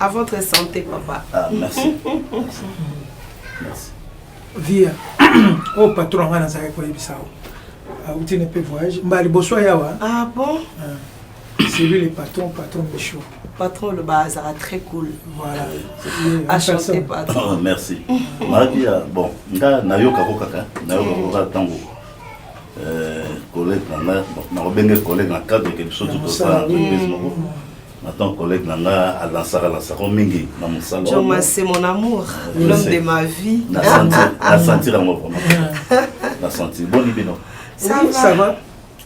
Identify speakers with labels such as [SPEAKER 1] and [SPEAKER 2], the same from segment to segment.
[SPEAKER 1] À votre santé, papa. Ah, merci. merci.
[SPEAKER 2] merci.
[SPEAKER 3] Via, oh patron, on a ça avec auti na mpe voyage mbala liboso aya wa ah bon
[SPEAKER 1] ah. c'est
[SPEAKER 3] lui le patron patron michaud patron le
[SPEAKER 1] bazara très cool voilà
[SPEAKER 3] achante
[SPEAKER 1] patron oh, merci
[SPEAKER 2] maraki ya bon nga nayoka ko kaka nayoka ko kaka ntango Euh, collègue na nga nakobenge collègue na cadre ke biso tout osala entreprise moko maintenant collègue na nga alansaka lansaka mingi na mosala joma c'est mon amour
[SPEAKER 1] l'homme de ma vie nasentir
[SPEAKER 2] yango vraiment nasentir boni bino ça va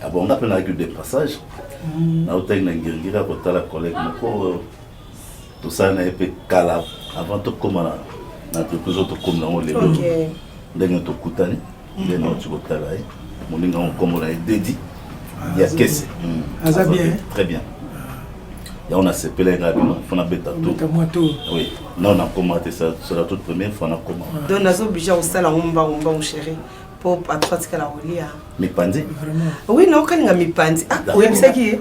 [SPEAKER 1] abonga ah mpe nayaki
[SPEAKER 2] de passage hmm. nautaki na ngirngiri ya kotala collègue moko tosala na ye mpe kala avant tokóma na na entreprise oyo tokómi nango lelo ndenge tokutani nde nauti kotala ye moninga yango nkombo na ye dedi ah, ya kese hmm. aza bien
[SPEAKER 3] très bien
[SPEAKER 2] yango nasepela ye ngai bino mpo nabeta oui nao nakoma te c'est la toute première fois nakoma ah. donc naza oblige ya kosala
[SPEAKER 1] yango mbangu mbangu chéri mpo patro atikala kolia mipanzi
[SPEAKER 2] oui naokalinga
[SPEAKER 1] mipanzi ah, oyebisaki ye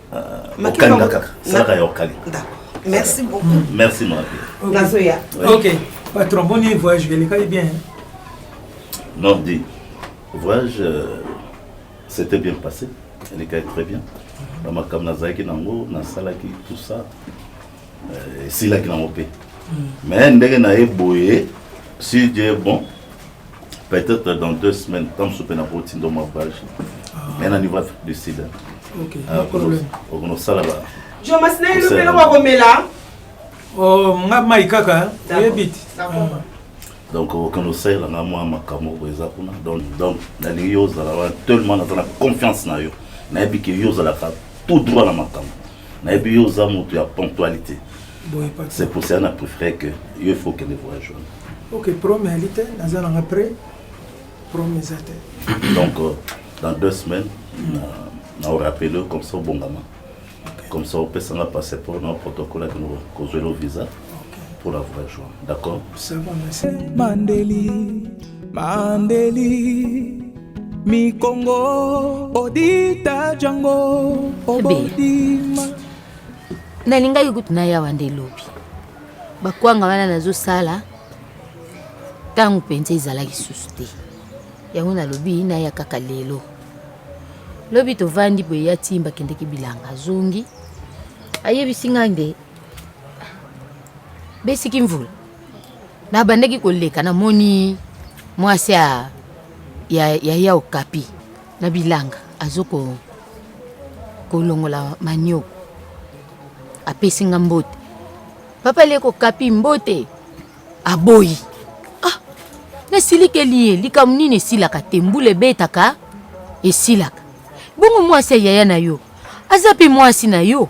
[SPEAKER 1] Euh,
[SPEAKER 2] okali na kaka salaka ya okali merci
[SPEAKER 1] beaucoup mm. merci mabe
[SPEAKER 2] nazoya ok
[SPEAKER 3] patron boni voyage elekaki bien
[SPEAKER 2] non di voyage euh, c'était bien passé elekaki très bien mm-hmm. bamakambo nazalaki nango nasalaki tout ça euh, esilaki nango mpe mm. mais ndenge na ye boye si je bon peut-être dans deux semaines ntango mosusu mpe nakoti ndo mwa bage mais na niveau afrique du sud
[SPEAKER 3] okonosala ba
[SPEAKER 2] jomas na elo
[SPEAKER 1] mpelo wakomela
[SPEAKER 3] nga mai kaka oyebi ti
[SPEAKER 2] donc okonosalela nga mwa makambo oyo eza kuna donc nalingi yo ozala wana tellement naza na confiance na yo nayebi ke yo ozalaka tout droit na makambo nayebi yo oza moto ya ponctualité c'est pour ça na préféré que yo faut okende voyage wana ok prom
[SPEAKER 3] eyali te naza nanga près prom eza te donc
[SPEAKER 2] euh, dans deux semaines na orapele oyo comme ça obongama comme ça opesanga passeport na protocole akende kozwela visa pour la vraie joie. D'accord
[SPEAKER 3] Mandeli, Mandeli.
[SPEAKER 4] mikongo odita jango obodima
[SPEAKER 5] nalingaki kutu na yawa nde lobi bakwanga wana nazosala ntango mpenza ezalaki susu te yango nalobi naya kaka lelo lobi tovandi boye ya timba akendeki bilanga azongi ayebisi ngai nde besi kimvula nabandaki koleka namoni mwasi ya, ya, ya yao kapi na bilanga azo ko, kolongola manioko apesi nga mbote papa leko kapi mbote aboyi ah, nasilikeli ye likambo nini esilaka te mbula ebetaka esilaka bongo mwasi ya yaya na yo aza mpe mwasi na yo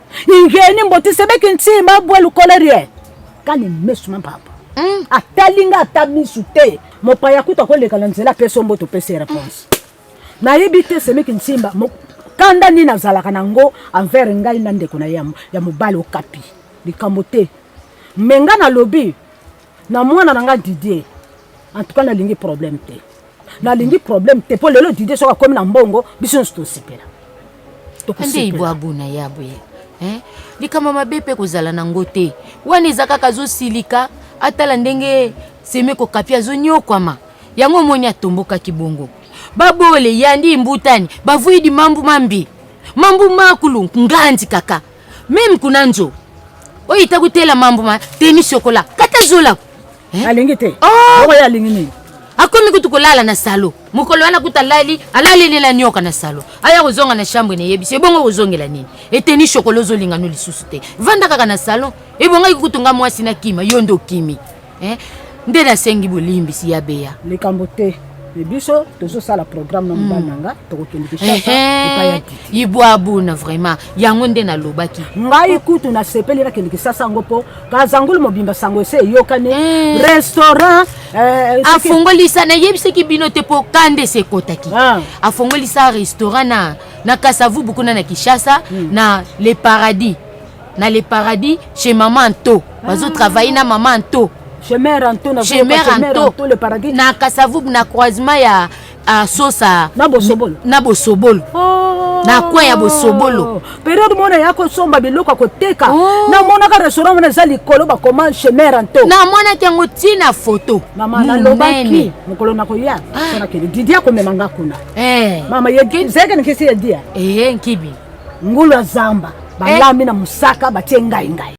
[SPEAKER 6] ingeni mbote sebeki ntima bwa lokola rie kani mesu mambamba hmm. atali nga ata misu te mopaya kutu akoleka na nzela apesi yo mboto opesi réponse nayebi te semeki nsimba kanda nini azalaka nango envers ngai na ndeko na ye ya mobali okapi likambo te me ngai nalobi Na mwana na nga Didier, en tout cas nalingi problème te. Nalingi problème te po lelo Didier soki akomi na mbongo, biso nyonso tosepela. Ande
[SPEAKER 5] ibwabu na yabo ye. Hein? Likambo mabe pe kozala na ngo te. Wana eza kaka azosilika, atala ndenge seme kokapi azonyokwama. Yango omoni atombokaki bongo. Babole yandi imbutani, bavuyidi mambu mambi. Mambu makulu nganzi kaka. meme kuna nzo oyo ita kutela
[SPEAKER 6] mambo ma
[SPEAKER 5] temi
[SPEAKER 6] sokola
[SPEAKER 5] kata
[SPEAKER 6] zola
[SPEAKER 5] eh? alingi te oh! oyo
[SPEAKER 6] alingi nini
[SPEAKER 5] akomi kutu kolala na salo mokolo wana kutu alali alaleli na nioka na salo aya kozonga na chambre na eyebisi ebongo kozongela nini eteni shokola ozolinga no lisusu te vanda kaka na salo ebongaki kutu nga mwasi na kima yo nde okimi eh? nde nasengi bolimbisi ya beya likambo te
[SPEAKER 6] me biso tozosala programme na mobali na nga tokokende kisasayibwabuna
[SPEAKER 5] vraiment yango nde nalobaki ngai kutu
[SPEAKER 6] nasepeli nakende kisasa yango mpo kazangulu mobimba sango ese eyokani eh. restaurant eh, eh,
[SPEAKER 5] afongolisa nayebisaki bino te mpo ka nde sekotaki ah. afongolisa restaurant na na kasavubu kuna na kinshasa hmm. na le paradis na le paradis chez maman anto bazo travailler na maman anto chez mère anto
[SPEAKER 6] na chez mère anto le
[SPEAKER 5] paradis na kasavubu na croisement ya asosa na bosobolo
[SPEAKER 6] na bosobolo oh.
[SPEAKER 5] na coin ya bosobolo periode mona ya
[SPEAKER 6] kosomba biloko ya koteka oh. namonaka restaurant mona eza likolo bakoma chez mère anto namonaki yango ntina
[SPEAKER 5] foto mama nalobaki
[SPEAKER 6] mokolo nakoya ah. sonakende didi akomema nga kuna eh. mama zekenikisi ya dia eh, nkibi
[SPEAKER 5] ngulu ya
[SPEAKER 6] zamba balambi eh. na mosaka batie ngai ngai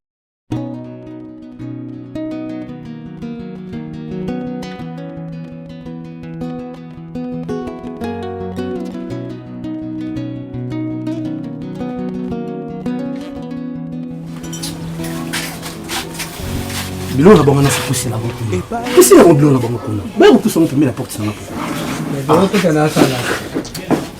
[SPEAKER 7] biloko na bango na fokusi na bango kuna kusi na bango biloko na bango kuna baya kopusa ngo pembeni ya porte na nga pokua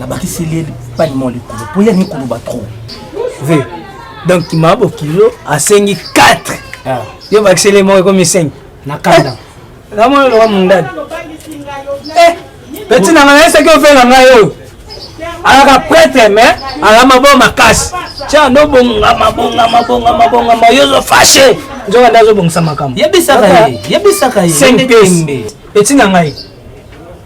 [SPEAKER 7] nabakiseli ye lipani mwa likolo mpo ya nikoloba trop ve
[SPEAKER 3] donc mabo kilo asengi 4 ah. yo bakiseli ye moko ekomi 5 na kanda eh, namona loka mondani eh, peti na ngai soki ofela ngai oyo alaka pretre me ala mabongo makasi tya nobonga mabonga mabonga mabonga ma yo ozo fashe nzoka nde azobongisa makambo yebisaka ye
[SPEAKER 7] yebisaka ye
[SPEAKER 3] peti na ngai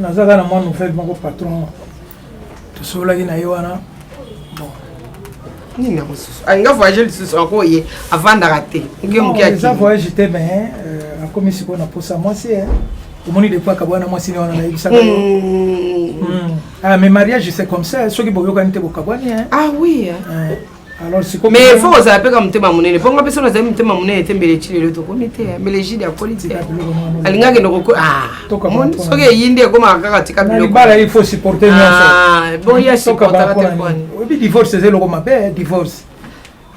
[SPEAKER 3] naza kaka na mwa nouvelle moko patron tosololaki na ye wana
[SPEAKER 1] nini yango lisusu alinga ah, voyage lisusu yango ye avandaka te moke moke eza voyage te me
[SPEAKER 3] euh, akomi sikoyo na posa mwasi eh. omoni depuis akabwa na mwasi ne wana nayebisaka hmm. hmm. ah, mais mariage c'est comme ça soki boyokani te bokabwani eh. ah oui eh. mais il faut kozala mpe ka
[SPEAKER 1] motema monene mpo nga mpe soki nazali motema monene te mbele eci lelo tokomi te mbele egide akoli te alingi akende koko ah, soki eyindi ekomaka kaka tika bilobala il faut supporte
[SPEAKER 3] nyonso ah, boya
[SPEAKER 1] supportaka
[SPEAKER 3] te
[SPEAKER 1] kwani oyebi
[SPEAKER 3] divorce
[SPEAKER 1] eza eloko
[SPEAKER 3] mabe
[SPEAKER 1] eh,
[SPEAKER 3] divorce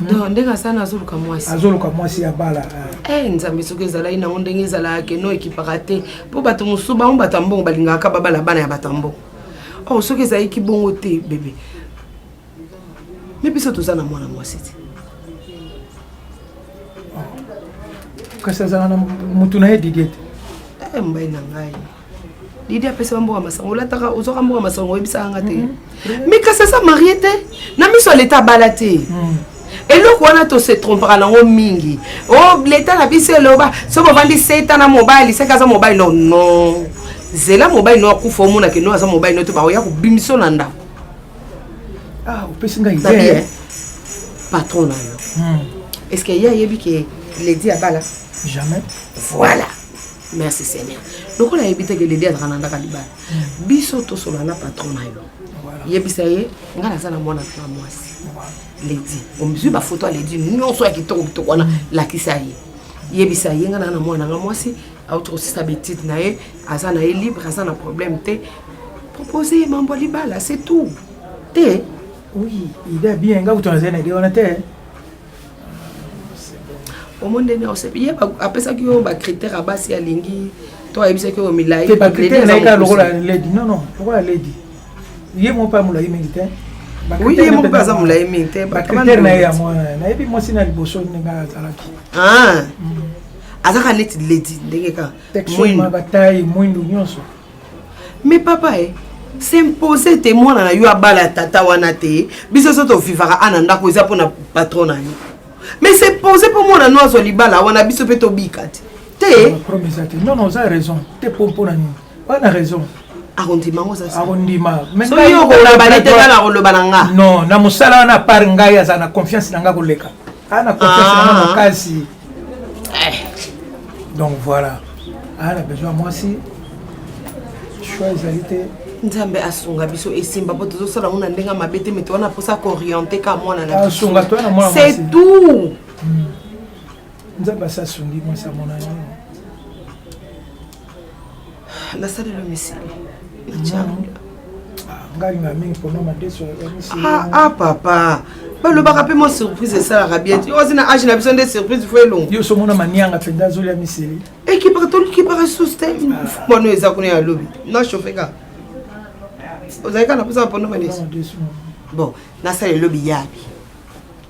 [SPEAKER 1] donc ndenge asala azoluka mwasi azoluka mwasi ya bala
[SPEAKER 3] e eh. eh, nzambe soki
[SPEAKER 1] ezalaki nango ndenge ezalaka keno ekipaka te mpo bato mosusu bango bato ya mbongo balingaka babala bana ya bato ya mbongo or oh, soki ezalaki bongo te bebe Mais biso toza na mwana mwasi te.
[SPEAKER 3] Kasi azala na mutu na ye Didier te. Eh mbai na ngai.
[SPEAKER 1] Didier apesa ba mboka masango olataka ozwaka mboka masango oyebisaka nga te. Mhm. Mais kasi aza marie te na miso ya leta abala te. Mm. eloko wana tose trompaka nango mingi o oh, leta na biso eloba so bovandi seta na mobali seke aza mobali no no zela mobali no akufa omonake no aza mobali no te bakoya kobimiso na ndako ah opesi
[SPEAKER 3] ngai idée
[SPEAKER 1] patron na yo hmm. est ce que ye ayebi ke ledi abala jamais
[SPEAKER 3] voilà
[SPEAKER 1] merci seigneur lokola ayebi te ke ledi azalaka na ndaka libala hmm. biso tosolola na patron na yo yebisa ye ngai naza na mwana na mwasi ledi omizwi bafoto ya ledi nyonso ya kitoko kitoko wana hmm. lakisa ye yebisa ye ngai naa na mwana nga mwasi aotrosisa betide na ye aza na ye libre aza na problème te propose ye mambo ya libala c'est tout te oui
[SPEAKER 3] ida bien nga kutu nazali na ide wana te
[SPEAKER 1] omoni ndenge osebi ye apesaki yo bacritère ya basi alingi to ayebisaki oyo milai te bacritère na ye kaka
[SPEAKER 3] lokola ledi non non lokola ledi ye moko mpe amolai mingi te oui ye moko mpe
[SPEAKER 1] aza molai mingi te bacritère na ye yango wana
[SPEAKER 3] nayebi mwasi na liboso ndenge azalaki ah. mm.
[SPEAKER 1] azaka neti ledi ndenge kaka mwindu bataille
[SPEAKER 3] mwindu nyonso mais
[SPEAKER 1] papa eh s'impose te mwana na yo abala ya tata wana te biso so tovivaka ana ndako eza mpona patron na yo mais s'impose mpo mwana no azwa libala wana biso mpe tobika te te non non oza
[SPEAKER 3] raison te mpo mpona nini oza na raison akondima yango
[SPEAKER 1] akondima soki
[SPEAKER 3] yo okoloba
[SPEAKER 1] nete nga nakoloba na nga non na mosala wana
[SPEAKER 3] apart ngai aza na confiance na nga koleka aa na confiance na nga ah. makasi eh. donc voilà aa na besoin mwasi choix ezali te nzambe asunga
[SPEAKER 1] biso esimba mpo tozosala yango na ndenge mabe te mete wana mposa kooriente ka mwana na biso c'est
[SPEAKER 3] tout
[SPEAKER 1] hmm.
[SPEAKER 3] nzambe asasungi mwasi amona yango
[SPEAKER 1] nasali lo misili naciaruda
[SPEAKER 3] ah, ngai na mingi mpona madeso ah, ah papa
[SPEAKER 1] balobaka mpe mwa surprise esalaka bien ti ozi na age na biso nde surprise fo elongo yo somona manianga
[SPEAKER 3] mpenza azoli ya misili ekipaka tolukipaka
[SPEAKER 1] lisusu te mbano eza kuna ya lobi na chauffe kaka ozali kaka na mposa bapono madeso bon nasala elobi yabi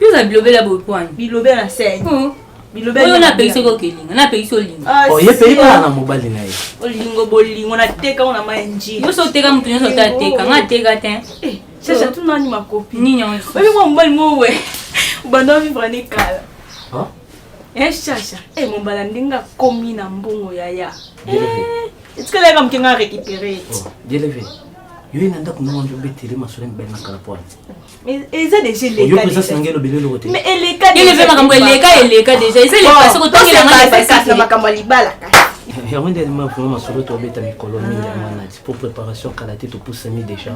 [SPEAKER 8] Yo za bilobela boye pwani. Bilobela na scène. Hmm.
[SPEAKER 9] Bilobela. Oyo na pekisi ko
[SPEAKER 8] kelinga, na pekisi olinga. Ah, oh, ye pekisi oh. na
[SPEAKER 2] mobali na ye. Olingo bolingo
[SPEAKER 9] na teka na maye nji. Yo so teka mutu nyoso
[SPEAKER 8] ta teka, nga teka te. Eh, sasa tu nani
[SPEAKER 9] makopi? Nini yango? Oyo mwa mobali
[SPEAKER 8] mo we.
[SPEAKER 9] Ubanda vivre ni kala. Hein? Eh chacha, eh mon bala ndinga komi na mbongo ya ya. Eh, etikala kama kinga récupérer. Dielevé.
[SPEAKER 2] Oh, yo ina ndako na wanjo betele masole mbele na kala pwani. Mais eza
[SPEAKER 9] déjà eleka. Yo pesa sange lo bele
[SPEAKER 2] lokote. Mais eleka. Yo leve
[SPEAKER 9] makambo eleka
[SPEAKER 8] eleka déjà. Eza le passé ko tangi nanga le passé. Kasi makambo libala
[SPEAKER 9] kasi. yango nde
[SPEAKER 2] alima vraimen masolo tobeta mikolo mingi yango wana ti mpo préparation kala te topusami déjà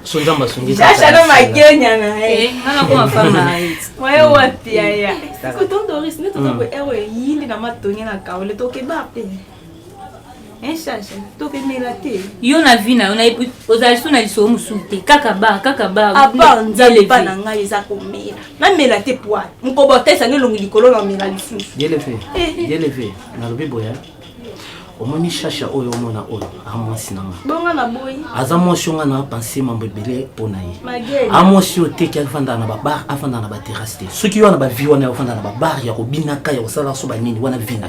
[SPEAKER 2] so nzambe asongisashana makenya
[SPEAKER 9] na
[SPEAKER 8] ye moye wapi
[SPEAKER 9] yaya kotondoris nde toza koewe yindi na matonge na kaole tokeba mpe yo na vi na yo
[SPEAKER 8] ozali so na lisolo mosusu te kaka ba kaka banzaleba
[SPEAKER 9] na ngai eza komela namela te poi mokobo otaisa nde elongi likolo na mela lisusu
[SPEAKER 2] eh. nalobi boya omoni shasha oyo omona oyo amwasi na ngai
[SPEAKER 9] aza mwasi onga na
[SPEAKER 2] panse mambo ebele mpo na ye amwasi oyo
[SPEAKER 9] teki
[SPEAKER 2] afandaka na babar afandaka na baterrasse te soki yo wana bavi wana ofandaka na babar ya kobinaka ya kosala so banini wana vi na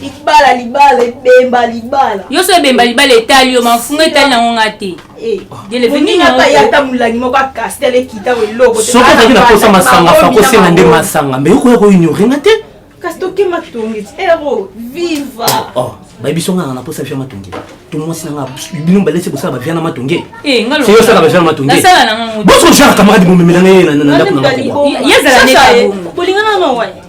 [SPEAKER 9] libala libala ebemba libala yo so ebemba libala
[SPEAKER 8] etali yo mafunga etali nango nga te eh,
[SPEAKER 9] ata molangi moko akastel ekita eloko soki ozalaki na kosa
[SPEAKER 7] masanga fakosenga nde masanga me okoya koignore nga te kasi tokema
[SPEAKER 9] tongi ero viva oh, oh. bayebiso
[SPEAKER 7] nganga na posa via matonge to mwasi na nga bino balesi bosala bavia na matonge eh, se yosala bavia
[SPEAKER 8] na matonge
[SPEAKER 7] boso
[SPEAKER 8] jara camarade bomemela
[SPEAKER 7] nga ye na ndako na nga bolinga nanga waye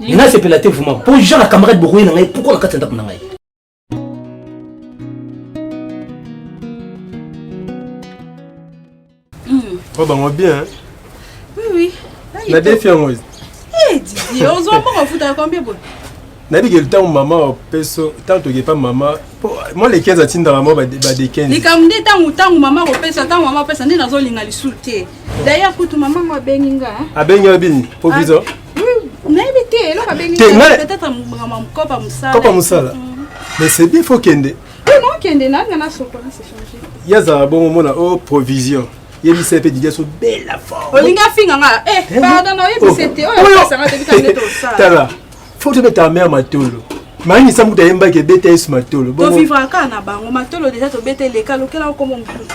[SPEAKER 7] Lingi na sepela te vraiment. Po jean na camarade bokoye na ngai pourquoi na kati ndako na ngai?
[SPEAKER 10] Hmm. Oh ba moi bien. Hein? Oui oui.
[SPEAKER 9] Na defi
[SPEAKER 10] yango. Eh Didi,
[SPEAKER 9] on zwa mbongo futa combien boy? nabikeli ntango
[SPEAKER 10] mama opeso ntango toke epa mama mwa lekenza atindaka mwa badekenzi likambo nde ntango
[SPEAKER 9] ntango mama kopesa ntango mama opesa nde nazolinga lisusu te D'ailleurs kutu maman ngo abengi nga. Abengi yo bini? Po
[SPEAKER 10] bizo. Nayebi
[SPEAKER 9] te eloko abengi nga peut-être maman kopa musala. Kopa musala.
[SPEAKER 10] Mm. Mais c'est bien faut kende. Non kende na
[SPEAKER 9] nga na sokola c'est changé. Yaza bongo mona
[SPEAKER 10] o oh, provision. yebisa ye mpe didi aso bela forme olingi afinga nga
[SPEAKER 9] eh, eh, pardon oyebisa ete oh. oyo osanga te bika nde tosala tala faut
[SPEAKER 10] tobeta mare matolo mayini sa moto ayembaki ebeta yesu matolo tovivraka na
[SPEAKER 9] bango matolo deja tobeta eleka lokela okoma mobutu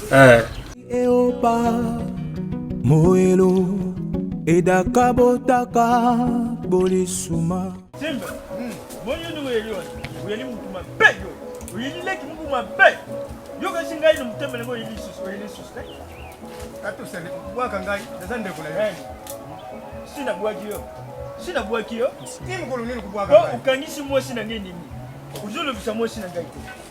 [SPEAKER 10] eh. eoba
[SPEAKER 4] moelo edaka botaka bolisuma simba
[SPEAKER 11] hmm. boyini oyeli wana oyeli motu mabe yo oyeli leki moku mabe yokasi ngai na motema nango oyeli lisusu oyeli lisusu te atosali bwaka ngai naza ndeko na yo si nabwaki yo si nabwaki yo ti mokolo nini kobwaka okangisi mwasi na ngai nini ozolobisa mwasi na ngai te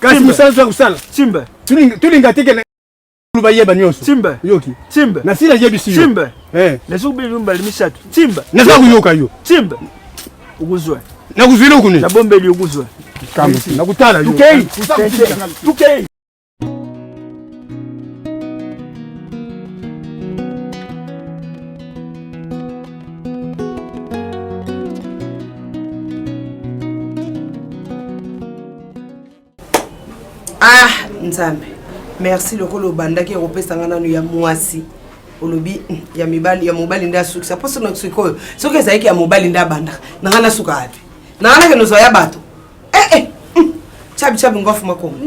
[SPEAKER 11] kasi mosala nso ya kosala tolinga te kele luba yeba nyonso timba yoki timba na sila yebi si timba eh na zo be lumba le misatu timba na za kuyoka yo timba ukuzwa na kuzwile ukune na bombe li ukuzwa kambi na kutala yo tukei tukei
[SPEAKER 1] ah nzambe merci lokola obandaki ya kopesa nga nanu ya mwasi olobi hmm, ya mibali ya mobali nde asukisa mpo soki sikoyo soki ezalaki ya mobali nde abandaka na nga nasuka wapi na nga nakende ozwa ya bato eh, eh. chabi chabi ngo afuma kongo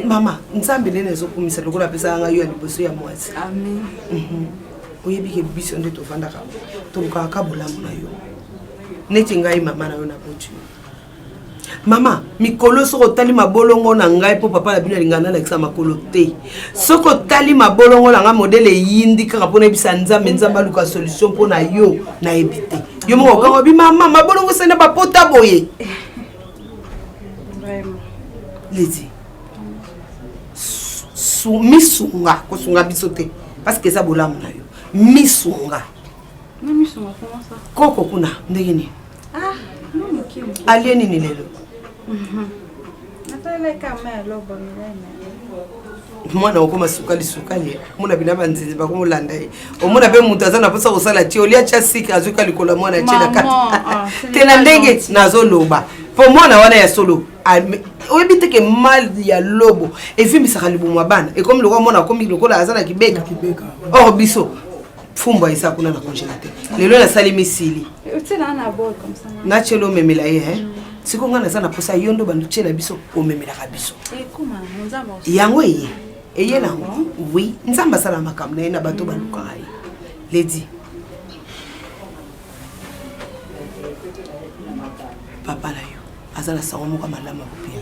[SPEAKER 1] mama nzambe nene ezokumisa lokola apesaka ngai yo ya liboso ya mwasi mhm. oyebi ke biso nde tofandaka tolukaka ka bolamu na yo neti ngai mama na yo na boti mama mikolo soki otali mabolongo na ngai mpo papa na bino alingaka nalakisa makolo te soki otali mabolongo na ngai modele eyindi kaka mpo nayebisa nzambe nzambe aluka solution mpo na yo nayebi te yo moko okanga bi mama mabolongo esali na bapota boye
[SPEAKER 9] leti
[SPEAKER 1] misunga kosunga biso te parce que eza bolamu na yo misunga Na
[SPEAKER 9] miso ma comment ça? Koko kuna ndenge
[SPEAKER 1] nini? Ah, non
[SPEAKER 9] moke moke. Alie nini lelo? Mhm.
[SPEAKER 1] Natala kama ya lobo milene. mwana okoma sukali sukali omona bina banzinzi bakomolanda ye omona mpe moto aza na mposa kosala ti olia tya sika azwi ka likolo ya mwana tye na kati ah, te na ndenge nazoloba mpo mwana wana ya solo oyebi te ke mal ya lobo evimbisaka libumu ya bana ekomi lokola mwana akomi lokola aza na kibeka or biso fumba eza kuna na congélateur lelo nasali misili natyelo omemela ye eh? mm. siko ngai naza na posa yo ndo bandotyela biso omemelaka biso yango eye eye nango ah wi nzambe asala makambo na ye na bato balukaka ye ledi papa na yo aza na sango moko malamu akopia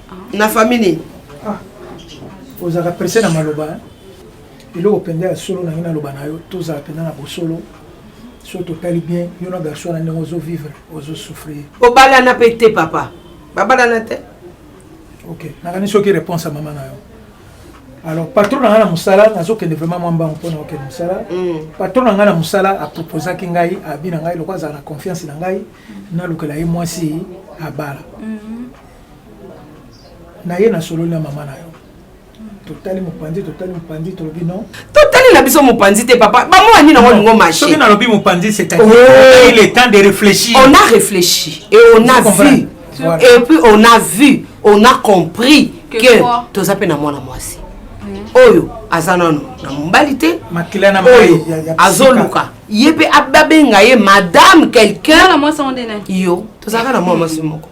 [SPEAKER 3] na famille
[SPEAKER 1] nini
[SPEAKER 3] ah, ozalaka presse na maloba hein? eloko mpenza ya solo nangi naloba na yo tozala mpenza na bosolo soki totali bien yo na garso wana ndenge ozovivre ozosouffrir obalana mpe te
[SPEAKER 1] papa babalana te ok
[SPEAKER 3] nakani soki réponse ya mama na yo alors patron na ngai na mosala nazokende vraiment mwa mbango mpo na kokende mosala mm. patron na ngai na mosala aproposaki ngai abi na ngai lokola azala na confiance na ngai nalukela ye mwasi abala mm. na ye nasololi na mama na yo totali mopanzi totali mopanzi tolobi non totalela biso
[SPEAKER 1] mopanzi te papa bamona nini yango lingo marché soki nalobi mopanzi
[SPEAKER 3] c'est-à-dire oh. le temps de réfléchir on a réfléchi
[SPEAKER 1] et on a vu et puis on a vu on a compris que toza mpe na mwana mwasi hmm. oyo aza nano na mobali te oyo azoluka ye mpe ababenga ye madame quelqu'un yo tozalaka na mwana mwasi moko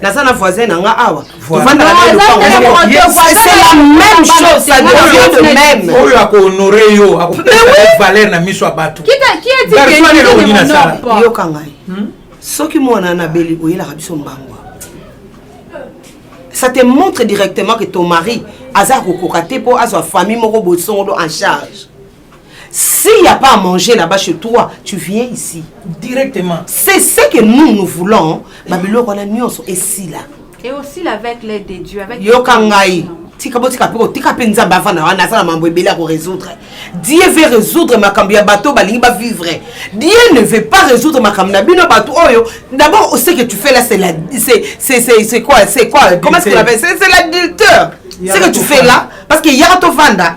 [SPEAKER 1] naza na voisin na nga awa tovandaka na lopangoyesela même chose ça devient de même oyo akohonore
[SPEAKER 3] yo akopesa valeur na miso ya bato garsoine
[SPEAKER 9] elokoni na sala
[SPEAKER 1] yoka
[SPEAKER 9] ngai hmm?
[SPEAKER 1] soki mwana na beli oyelaka biso mbangwa ça te montre directement que ton mari aza kokoka te mpo azwa famille moko bosongolo en charge S'il n'y a pas à manger là-bas chez toi, tu viens ici. Directement.
[SPEAKER 3] C'est ce que
[SPEAKER 1] nous, nous voulons. Babylone, on a nyonso. Et si là. Et aussi là, avec
[SPEAKER 9] l'aide de Dieu. Avec Yokangai.
[SPEAKER 1] tika botika mpe kotika mpe nzambe avanda wana aza na mambo ebele ya koresoudre dieu veut résoudre makambo ya bato oyo balingi bavivre dieu ne veut pas résoudre makambo na bino bato oyo d'abord ce que tu fais là c'est la c'est quoi c'est quoi comment est-ce qu'on appelle c'est l'adulteur ce que tu fais là parce que yaka tovanda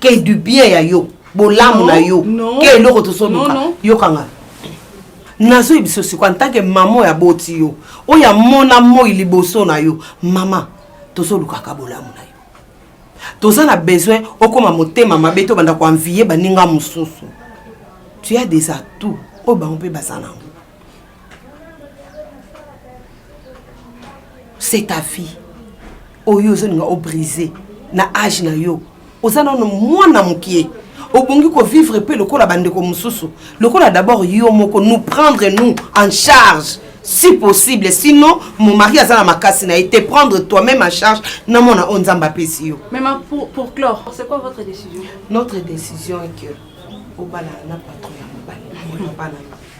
[SPEAKER 1] ke du bien ya yo bolamu na yo ke eloko tozoluka yokanga nazoyebi biso sikoyo antanke mama oyo aboti yo oyo amona moi liboso na yo mama tozolukaka bolamu na yo toza na besoin okoma motema mabe to banda koanviye baninga mosusu tu as des atouts oyo bango mpe baza nango c'est ta vie oyo ozolinga obrise na age na yo oza nano mwana mokie obongi kovivre mpe lokola bandeko mosusu lokola d'abord yo moko nous prendre nous en charge si possible sinon mon mari aza na makasi na ye te prendre toi-même en charge na mwana oyo nzambe apesi yo mema pour, pour
[SPEAKER 9] clore c'est quoi votre décision notre décision
[SPEAKER 1] est que obala na patron ya mobali mobana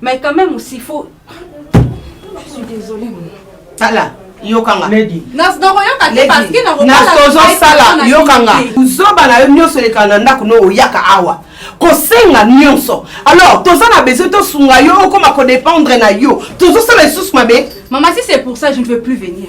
[SPEAKER 9] Mais quand même aussi faut Je suis désolée. Tala, yokanga. Lady.
[SPEAKER 1] Nas na
[SPEAKER 9] koyoka te parce que na koyoka. Nas tozo sala
[SPEAKER 1] yokanga. Uzoba na yo nyoso leka na ndako no oyaka awa. kosenga nyonso alors toza na besoin tosunga yo okoma kodépendre na yo tozosala lisusu mabe mama si c'est pour ça
[SPEAKER 9] je ne veux plus venir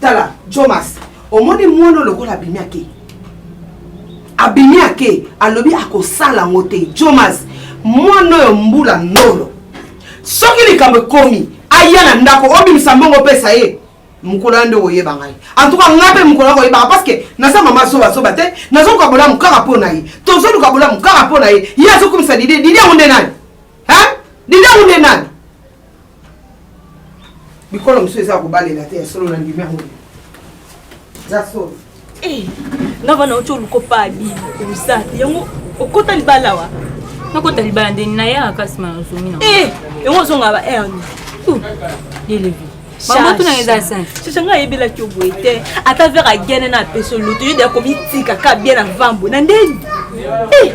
[SPEAKER 1] tala jomas omoni mwana lokola abimi ake abimi ake alobi akosala yango te jomas mwana oyo mbula nolo soki likambo ekomi aya na ndako obimisa mbongo opesa ye mokolo ya nde okoyeba ngai antuka ngai mpe mokolo ya koyebaka parceke naza mama zobazoba te nazoluka bolamu kaka mpo na ye tozoluka bolamu kaka mpo na ye ye azokumisa didie didie yango nde nani didie yango nde nani bikolo mosusu eza kobalela te ya solo na ndimi yango eza solo
[SPEAKER 9] eh, nga vana oti oluka opabi oza te yango okota libala wa nakota libala nde nayaka kasi manazongi na eh, yango ozonga ba erne lelevi bamotuna eza sens sasa ngai ayebelaki yo boye te ata vere agene na apeso loto yo de akomitika ka bien na vambo na ndeni eh!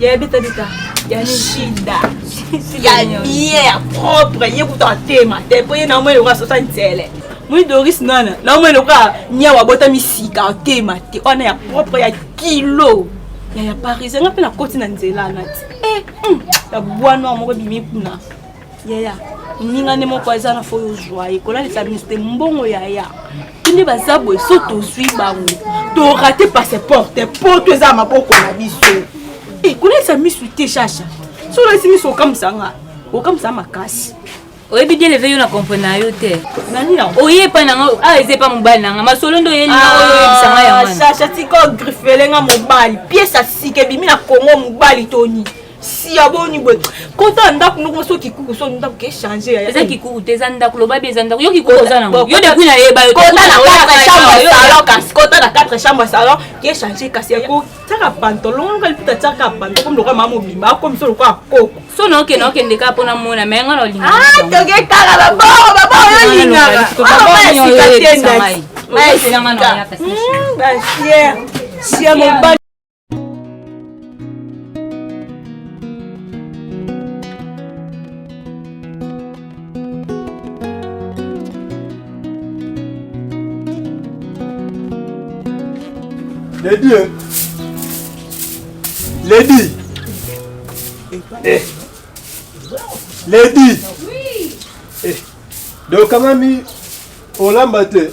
[SPEAKER 9] ya beta beta ya shida ya bien ya propre ye kutu atema te mpo ye na moi lokola sosa nzele moi doris nana na moi lokola nyau abotami sika atema te wana ya propre ya kilo ya ya paris nga mpe nakoti na nzela na ti eh, hmm, ya bwa noir moko ebimi kuna yaya moninga nde moko aza na fo yozwa ye kolalisa miste mbongo yaya nde baza boye so tozwi bango torate paseporte poto eza maboko na biso ekolakisa eh, misu te shasha so olakisi misu okamwisa nga okamwisa makasi oyebi deleve yo na kompre na yo te oye epai na nga awa eza epai mobali na nga masolo nde oyeli nga oyo oyebisa nga yango ah, shasha tika ogrifele nga mobali piese asika ebimi na kongo mobali toni siya boni boye kota ndako noko soki kikuku so ndako ke change ya eza kikuku te eza ndako loba bi eza ndako yo kikuku oza nango yo depuis na yeba yo kota na quatre chambre salon kasi kota na quatre chambre salon ke change kasi yako tsaka pantalon nanga liputa tsaka pantalon comme lokola mama obima akomisa lokola koko so na okende okende kaka mpona mona me yanga na olinga ah, toke kaka baboo baboo yo olingaka amasika te ndasi basie sie mobali
[SPEAKER 10] Lady, eh? Lady. Eh. Lady. Oui. Eh. Donc, Kamami, olamba te.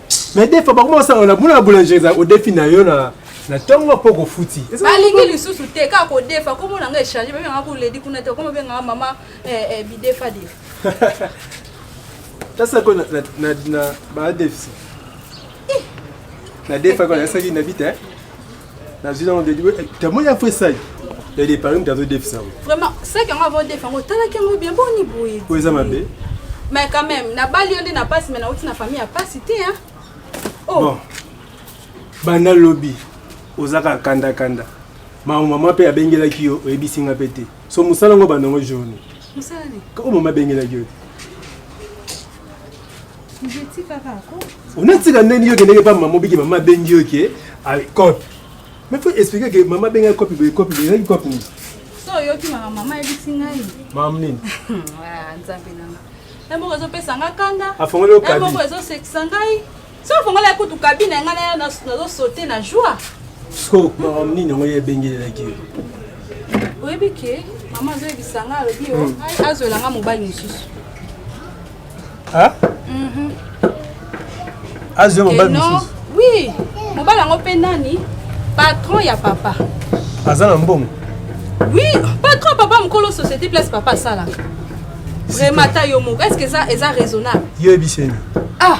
[SPEAKER 10] Mais des fois bakoma ça on a boula boulangerie au défi na yo na na tongo po ko futi. Balingi lisusu
[SPEAKER 9] te ka ko defa komo na ngai changer bebe ngako ledi kuna te komo be ngaka mama eh eh bidefa defa. Tasa
[SPEAKER 10] ko na na na ba defisi. Na defa ko na saki na bita. nazwi nango ndedi tamo ya fo esali elle est parmi dans deux ça vraiment ça quand on
[SPEAKER 12] va défendre t'as la qu'un bien bon ni boye oui ça m'a bien
[SPEAKER 10] mais quand même
[SPEAKER 12] na bali on na passe mais na outi na famille a passe c'était hein oh bon
[SPEAKER 10] banda lobby ozaka kanda kanda ma maman pe abengela ki yo oyebisi nga pete so musala ngo banda ngo journée musala ni
[SPEAKER 12] ko maman bengela ki yo onatika ndeni yo
[SPEAKER 10] kendeke pa mama obiki mama abengi yo ke cope mais faut expliquer ke mama abengi cope boye cope boye ezalaki cope nini so oyoki
[SPEAKER 12] mama mama ayebisi ngai mama nini nzambe nanga emoko ezopesa nga kanda emoko
[SPEAKER 10] ezosekisa ngai
[SPEAKER 12] Soki fongola ya kutu kabine ngai nayo nazo saute na joie. Sko maman
[SPEAKER 10] nini yango ye ebengelelaki yo?
[SPEAKER 12] Oyebi ke mama azoyebisa ngai alobi yo hmm. azwela ngai mobali mosusu.
[SPEAKER 10] Ah? Mhm. Azwe mobali mosusu? Oui,
[SPEAKER 12] mobali yango mpe nani? Patron ya papa. Aza na mbongo?
[SPEAKER 10] Oui,
[SPEAKER 12] patron papa mokolo société place papa asalaka. Vraiment ta yo moko, est-ce que eza raisonnable? Yo ebiseni.
[SPEAKER 10] Ah!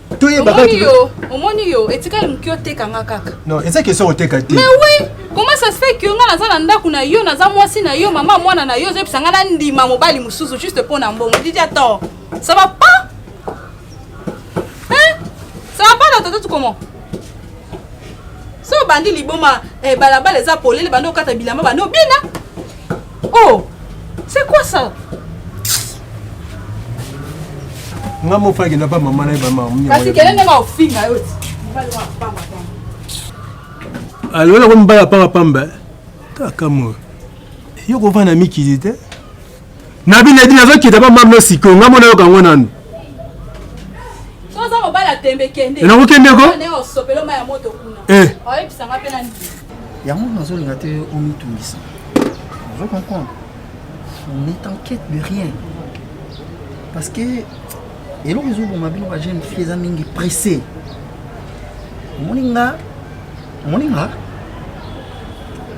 [SPEAKER 10] toyeba kaka yo omoni
[SPEAKER 12] yo etikali moke oteka nga kaka non eza question oteka
[SPEAKER 10] te mais oui comment
[SPEAKER 12] ça se fait que nga naza na ndako na yo naza mwasi na yo mama mwana na yo ozoyebisa nga na ndima mobali mosusu juste mpo na mbongo didi attends ça va pas hein ça va pas na tata tu comment so obandi liboma eh, balabala eza polele bando okata bilamba bando obina Oh, c'est quoi ça?
[SPEAKER 10] Nga mo faki na ba mama na ba mama. Kasi kele ndenge
[SPEAKER 12] ofinga
[SPEAKER 10] yo ti. Alo na ko mbala pamba pamba. Kaka mo. Yo ko vana mikili te. Na bi na di na zo kita ba mama no siko nga mo na yo kango nanu.
[SPEAKER 12] Soza ko bala tembe kende. Na ko kende ko? Na yo
[SPEAKER 10] sopelo ma ya moto
[SPEAKER 12] kuna. Eh. Oyi bisanga pe na ndi. yango nazolinga
[SPEAKER 13] te omitungisa ozo comprendre on est en quête de rien parce que eloko ezoboma bino ba jeune fille eza mingi pressé omoni nga omoni nga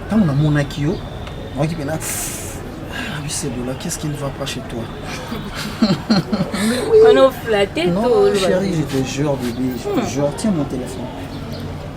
[SPEAKER 13] ntango namonaki yo naoki mpena ah, bisedola qu'est-ce qui ne va pas chez toi
[SPEAKER 8] oui. non chérie je
[SPEAKER 13] te jure bébé je te hmm. jure tiens mon téléphone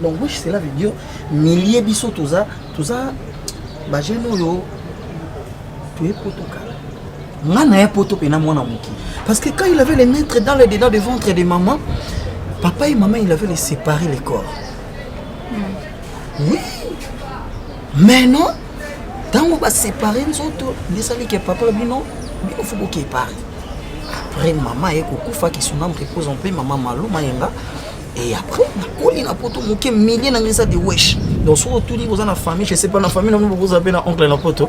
[SPEAKER 13] donc wesh cela veut dire milie biso toza toza bagene oyo toye poto kala nga na ya poto mpena mwana moke parce que quand il avait les maîtres dans le dedans de ventre de maman papa et maman il avait les séparer les corps mm. oui mais non ntango basépare nzoto ndesali ke papa lobi non bino fo bokepare après mama aye kokufa kisunamke kozwa mpe mama malo mayenga Et après, nakoli na poto moke milieu na ngisa de wesh. Donc soki otuni boza na famille, je sais pas na famille na bino bokoza pe na oncle na poto.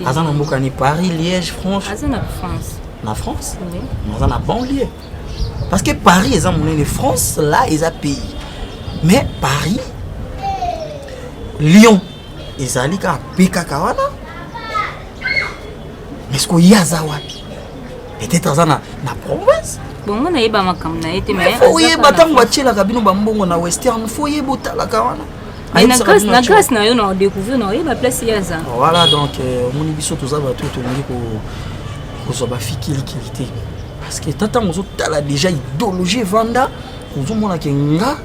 [SPEAKER 13] Aza na mboka ni Paris, Liège, France. Aza na France. Na France? Oui. Aza na banlieue. Parce que Paris eza monene, France là eza pays. Mais Paris Lyon ezali kaka pe kaka wana. mais sikoyo ye aza wapi peut-être aza na, na province bongo nayeba
[SPEAKER 8] makambo na ye te mais fo oyeba ntango
[SPEAKER 13] batielaka bino bambongo na western fo oyeba otalaka wana Mais na grâce na
[SPEAKER 8] grâce na yo na découvrir na oyeba place ye aza voilà donc euh,
[SPEAKER 13] omoni biso toza bato oyo tolingi kozwa bafikilikili te parce que ta ntango ozotala déjà idéologie evanda ozomona ke nga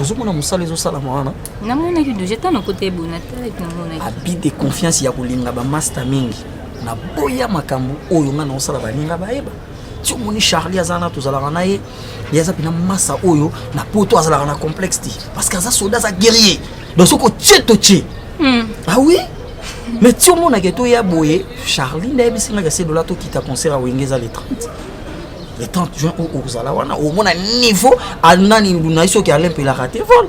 [SPEAKER 13] ozomona mosala ezosalama wana namonaki deja ntango
[SPEAKER 8] nakota eboye natalaki namonaki abi de confiance
[SPEAKER 13] ya kolinga bamasta mingi naboya makambo oyo ngai naosala baninga bayeba ti omoni charlie aza na tozalaka na ye ye aza mpena masa oyo na poto azalaka na complexe te parce que aza soda aza guerrier donc soki otie totie hmm. ah oui mais ti omonaka eto ya boye charlie nde ayebisi ngai kase dola tokita concert ya wenge eza le 30 le 30 juin oyo okozala wana omona niveau anani nduna ye soki alain mpelaka te vol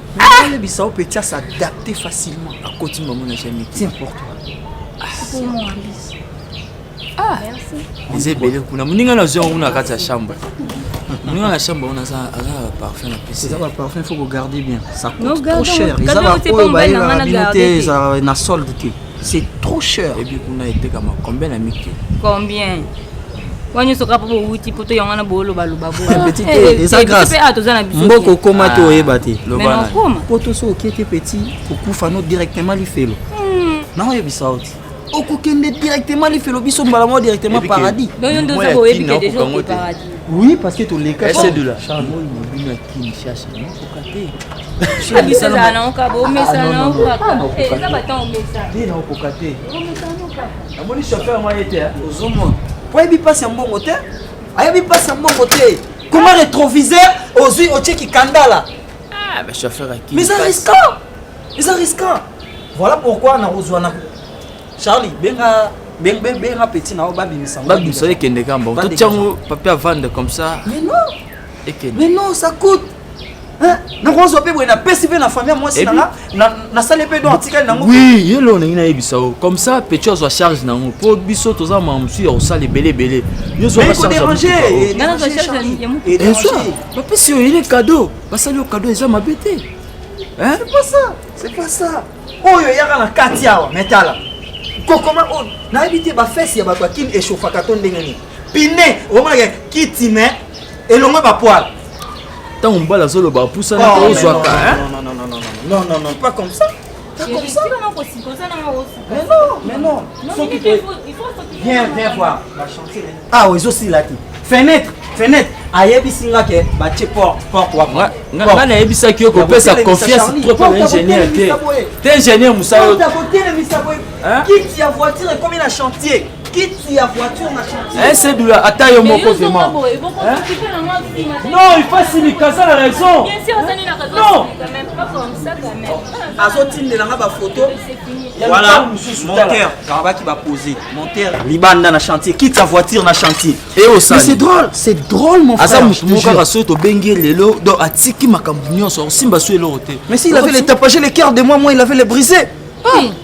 [SPEAKER 14] Mobali bisa
[SPEAKER 13] o petit s'adapter facilement à côté maman n'a jamais dit. N'importe quoi.
[SPEAKER 8] Ah, les ebele kuna
[SPEAKER 14] moninga na zwa kuna kati ya chambre moninga na chambre wana aza aza parfum na pesi eza baparfum faut kogarde
[SPEAKER 13] bien ça coûte trop cher eza baoyo bayebaka bino te eza na solde te c'est trop cher ebi kuna etekama
[SPEAKER 14] combien na mike combien
[SPEAKER 8] wana nyonso kaka mpo bowuti mpo toyango wana boolobaloba
[SPEAKER 13] mboka okoma te oyeba te mpo
[SPEAKER 8] to so okie
[SPEAKER 13] te petit kokufa no directement lifelo hmm. naoyebisa oti okokende directement lifelo biso mbala moko directement paradis
[SPEAKER 8] oui parce que toleka Namoni chauffeur mwa ye
[SPEAKER 13] te. Hein. Ozomona. Po ayebi pasi ya mbongo te. Ayebi pasi ya mbongo te. Comment rétroviseur ozui otie kikandala. Ah, mais
[SPEAKER 14] chauffeur aki. Mais ça risquant.
[SPEAKER 13] Mais ça risquant. Voilà pourquoi na kozwa na Charlie benga benga benga petit na babimisa. Babimisa ekende kamba.
[SPEAKER 14] Tout tiango papier à vendre comme ça. Mais non.
[SPEAKER 13] Ekende. Mais non, ça coûte. Hein? nakozwa mpe boye napesi mpe na famille ya mwasi nanga nasali mpe don atikali nango oui ye leo nalingi nayebisa
[SPEAKER 14] yo comme ça petit azwa charge nango mpo biso toza mama mosusu ya kosala ebele ebele
[SPEAKER 13] yozwabapesi
[SPEAKER 14] yo yene cadeau basali yo cadeau eza mabe te c'est
[SPEAKER 13] pas ça oyo eyaka na kati awa metala kokoma oyo nayebi te bafesi ya bato ya kini echauffaka to ndenge nini pine omonaka kiti me elongo bapoile ntango
[SPEAKER 14] mobali azoloba apusana oh, ozwaka
[SPEAKER 13] pas comme ça awa ezosila te fenêtre fenêtre ayebisi nga ke batie porte porte wapi nga nayebisaki
[SPEAKER 14] yo kopesa confiance trop na ingénieur te te ingénieur mosala yo
[SPEAKER 13] kiti ya voiture ekomi na chantier kiti ya voiture na chantier eh c'est doula ata yo
[SPEAKER 14] moko vraiment non il faut si likaza la raison
[SPEAKER 8] non azotindela nga ba
[SPEAKER 13] photo voilà monteur karabaki ba poser monteur libanda na chantier kiti ya voiture na chantier et eh, au mais c'est drôle
[SPEAKER 14] c'est
[SPEAKER 13] drôle mon frère aza mutu moko kaka soki
[SPEAKER 14] tobengi lelo donc atiki makambo nyonso osimba so eloko te mais s'il avait les tapagé
[SPEAKER 13] les cœurs de moi moi il avait les brisé ah.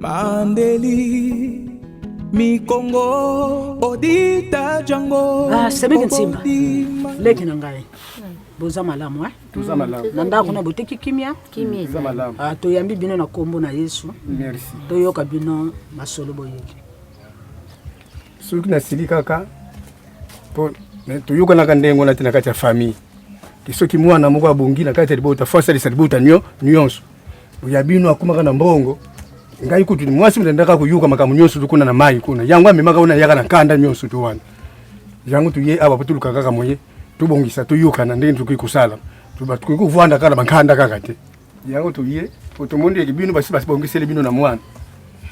[SPEAKER 4] Mandeli mikongo odita jango ah, sebeke nsimba
[SPEAKER 6] leki na ngai boza malamu eh? toza malamu na
[SPEAKER 11] ndako na boteki
[SPEAKER 6] kimia
[SPEAKER 12] ah, toyambi
[SPEAKER 11] bino na
[SPEAKER 6] nkombo na yesu Merci. toyoka
[SPEAKER 11] bino
[SPEAKER 6] masolo boyeki
[SPEAKER 11] soki nasili kaka mpo toyokanaka ndenge wana te na kati ya famille soki mwana moko abongi na kati ya libota fo asalisa libota nyonso ya bino akumaka na mbongo ngai kutu ni mwasi mutendaka kuyuka makambo nyonso tukuna na mai kuna yango amemaka ona yaka na kanda nyonso to wana yango tuye awa po toluka kaka moye tobongisa toyokana ndenge tokoki kosala tokoki kovanda kaka na bankanda kaka te yango toye po tomoni eke bino basi babongiseli bino na mwana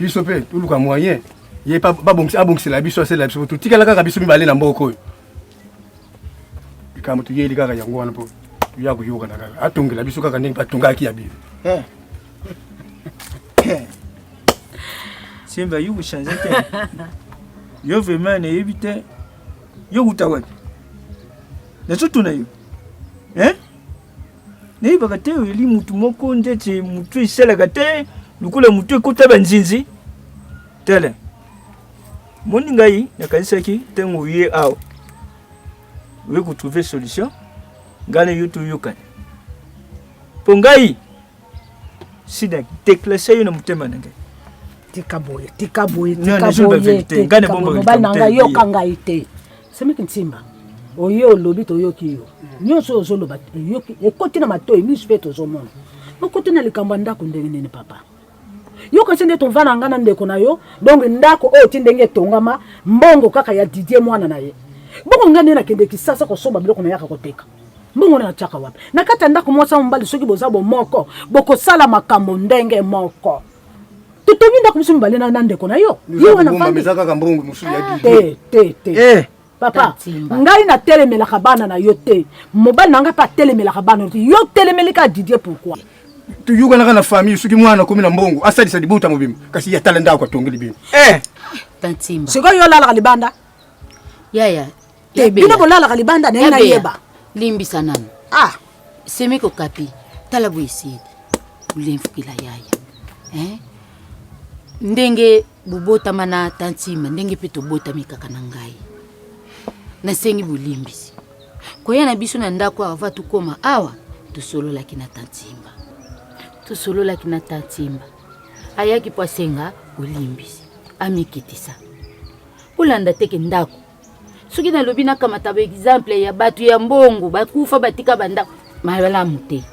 [SPEAKER 11] biso mpe toluka moyen ye abongisela biso asela biso totikala kaka biso mibale na mboka oyo likambo toyeli kaka yango wana mpo toya koyokana kaka atongela biso kaka ndenge batongaki ya biso eh.
[SPEAKER 15] semba yo kochange te yo vraiment nayebi te yo kuta wapi nazotuna yo eh? nayebaka te oyeli motu moko ndete motu esalaka te lokola motu ekota banzinzi tele Moni ngai nakanisaki ntango oye awa oye kotrouve solution ngai na yo toyokana mpo ngai sida deklase yo na motema na ngai tika
[SPEAKER 6] boye tika boye tika na ngai yoka ngai te semeki ntimba oye olobi toyoki yo nyonso oyo ozoloba ekoti na matoi miso mpe tozomona okoti na likambo ya ndako ndenge nini papa yo kasi nde tovanda nga na ndeko na yo donc ndako oyo ti ndenge etongama mbongo kaka ya didie mwana na ye bongo nga nde nakende kisasa kosomba biloko nayaka koteka mbongo na natiaka wapi na kati ya ndako mwasi ya mobali soki boza bomoko bokosala makambo ndenge moko totongi ndako biso mibale na ndeko na yo ye wana te te te papa ngai natelemelaka bana na yo te mobali na ngai mpe atelemelaka bana te yo telemeli kaka didie pourkui toyokanaka na
[SPEAKER 11] famille soki mwana akomi na mbongo asalisa libota mobimba kasi yatala ndako atongi libino eh!
[SPEAKER 5] sikoyo yo olalaka
[SPEAKER 6] libanda yaya
[SPEAKER 5] te bino
[SPEAKER 6] bolalaka libanda naye nayeba limbisa nanu
[SPEAKER 5] ah semi kokapi tala boye esili olemfukila yaya eh? ndenge bobotama na tantima ndenge mpe tobotami kaka na ngai nasengi bolimbisi koya na biso na ndako awa va tokoma awa tosololaki na tantimba tosololaki na tantimba ayaki mpo asenga bolimbisi amikitisa kolanda teke ndako soki nalobi nakamata baexemple ya bato ya mbongo bakufa batika bandako malamu te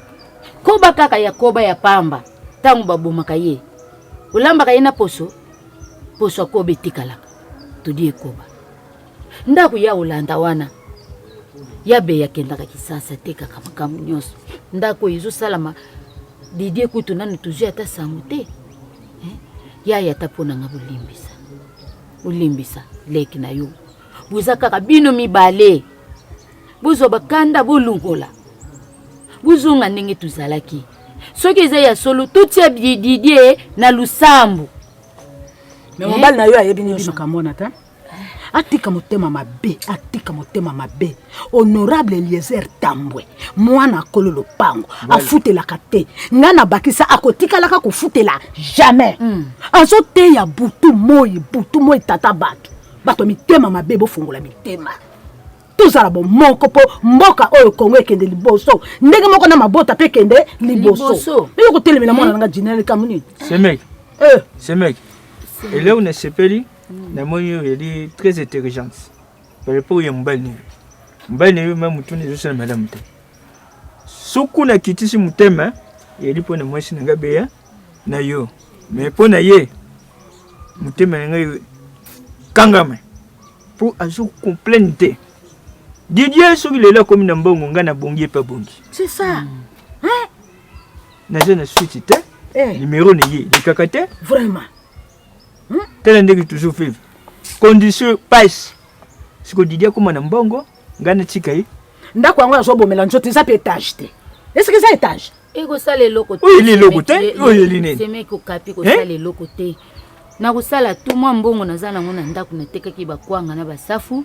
[SPEAKER 5] koba kaka yakoba ya pamba ntango babomaka ye olambaka ye na poso poso akoba etikalaka todi ekoba ndako ya olanda wana ya beye akendaka kisasa atekaka makambo nyonso ndako oyo ezosalama didie kutu nanu tozwi ata sango te eh? yaya ata mpo nanga bolimbisa olimbisa leki na yo boza kaka bino mibale bozwa bakanda bolungola bozonga ndenge tozalaki soki eza ya solo totia didie na lusambo
[SPEAKER 6] me mobali na yo ayebi nini makambo wana ta atika motema mabe atika motema mabe honorable eliezer tambwe mwana akolo lopango afutelaka te nga na bakisa akotikalaka kofutela jamais mm. azoteya butu moi butu moi tata bato bato mitema mabe bofongola mitema tozala bomoko mpo mboka oyo kongo ekende liboso ndenge moko na mabota mpe ekende liboso eye kotelemela mwana nanga jinel likambo nini semeki eh.
[SPEAKER 15] semeki eleu nasepeli namoni oyo eli très intelligence Pole pole ya mobali na yo. Mobali na yo meme motuna ezosala malamu te. Soki nakitisi motema eyeli mpo na mwasi na ngai beya na yo me mpo na ye motema na ngai kangama mpo azokomplaine te didie soki lelo akomi na mbongo ngai nabongi epe abongi naza na suite te eh. numero na ye likaka te vraiment
[SPEAKER 6] hmm?
[SPEAKER 15] tala ndenge toujours vivre condition pasi siko didi akoma na mbongo ngai natika ye ndako yango azobomela
[SPEAKER 6] nzoto eza mpe etage te esika eza etage ekosala eloko te
[SPEAKER 5] oyeli eloko te
[SPEAKER 15] oyeli nini semeki okapi eh? kosala
[SPEAKER 5] eloko te nakosala tu mwa mbongo naza nango na ndako natekaki bakwanga na basafu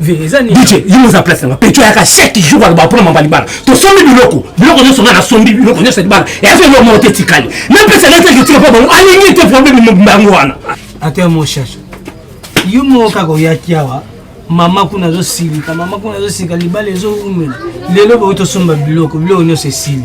[SPEAKER 16] budget yimo eza place
[SPEAKER 7] nanga pecho ayaka chaque jour aloba mpona mamba libala tosombi biloko biloko nyonso ngai nasombi biloko nyonso ya libala efe eloko moko te etikali napesa ngai teke tika mpo bango alingi te probleme mobimba yango wana ata mo cherche
[SPEAKER 16] yo moko kaka oyaki awa mama kuna azosilika mama kuna azosilika libala ezoumela lelo boyo tosomba biloko biloko nyonso esili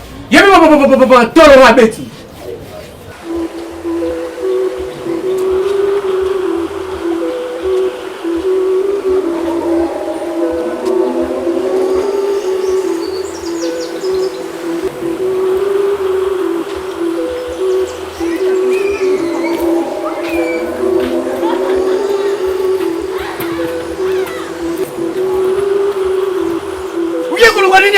[SPEAKER 7] Y'a même papa papa papa tolo wa beti. Uye kuluka nini?